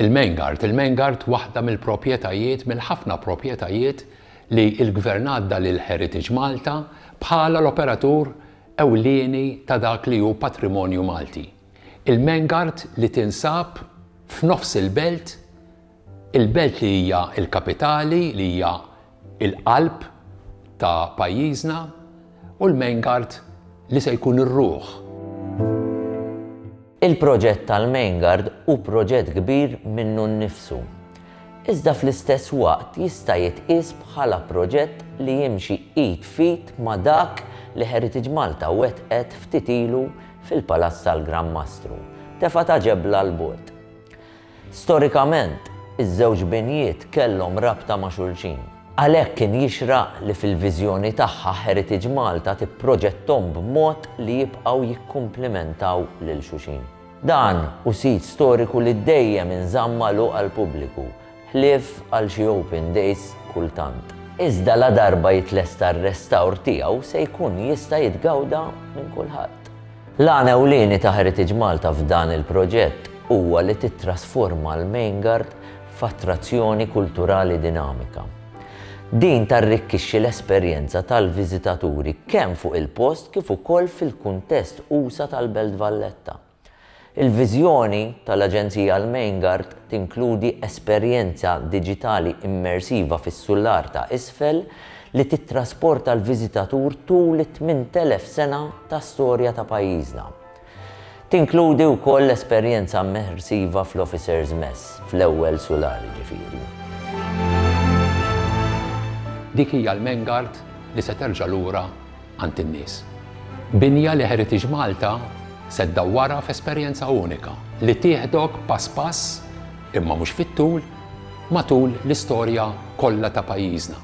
Il-Main Guard, il-Main Guard waħda mill-propjetajiet, mill-ħafna propjetajiet li l-Gvern għadda lil Heritage Malta bħala l-operatur ewlieni ta' dak li hu patrimonju Malti. Il-Main Guard li tinsab f'nofs il-belt, Il-belt li hija l-kapitali, li hija l-qalb ta' pajjiżna, u l-Main Guard li se jkun ir-ruħ. Il-proġett tal-Main Guard hu proġett kbir minnu nnifsu, iżda fl-istess waqt jista' jitqies bħala proġett li jimxi id f'id ma' dak li Heritage Malta wettqet ftit ilu fil-Palazz tal-Gran Mastru, tefgħa ta' ġebla 'l bogħod. Storikament, iż-żewġ binjiet kellhom rabta ma' xulxin. Għalhekk kien jixraq li fil-viżjoni tagħha Heritage Malta tipproġetthom b'mod li jibqgħu jikkumplimentaw lil xuxin. Dan hu sit storiku li dejjem inżamm magħluq għall-pubbliku, ħlief għal xi open days kultant. Iżda ladarba jitlesta r-restawr tiegħu se jkun jista' jitgawda minn kulħadd. L-għan ewlieni ta' Heritage Malta f'dan il-proġett huwa li tittrasforma l-Main Guard f'attrazzjoni kulturali dinamika. Din tarrikkixxi l-esperjenza tal-viżitaturi kemm fuq il-post kif ukoll fil-kuntest usa' tal-Belt Valletta. Il-viżjoni tal-Aġenzija għall-Main Guard tinkludi esperjenza diġitali immersiva fis-sular ta' isfel li tittrasporta l-viżitatur tul it-8,000 sena ta' storja ta' pajjiżna. Tinkludi wkoll esperjenza immersiva fl-Officers Mess, fl-ewwel sulari ġifieri. Dik hija l-Mengart li se terġa' lura għand in-nies. Binja li Heritage Malta se ddawwarha f'esperjenza unika li tieħdok pass pass, imma mhux fit-tul, matul l-istorja kollha ta' pajjiżna.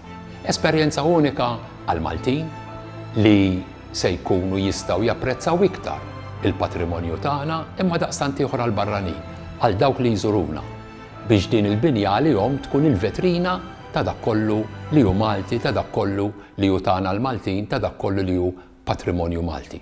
Esperjenza unika għall-Maltin li se jkunu jistgħu japprezzaw iktar il-patrimonju tagħna imma daqstant ieħor għall-barranin, għal dawk li jżuruna, biex din il-binja għalihom tkun il-vetrina ta' dak kollu li hu Malti, ta' dak kollu li hu tagħna l-Maltin, ta' dak kollu li hu patrimonju Malti.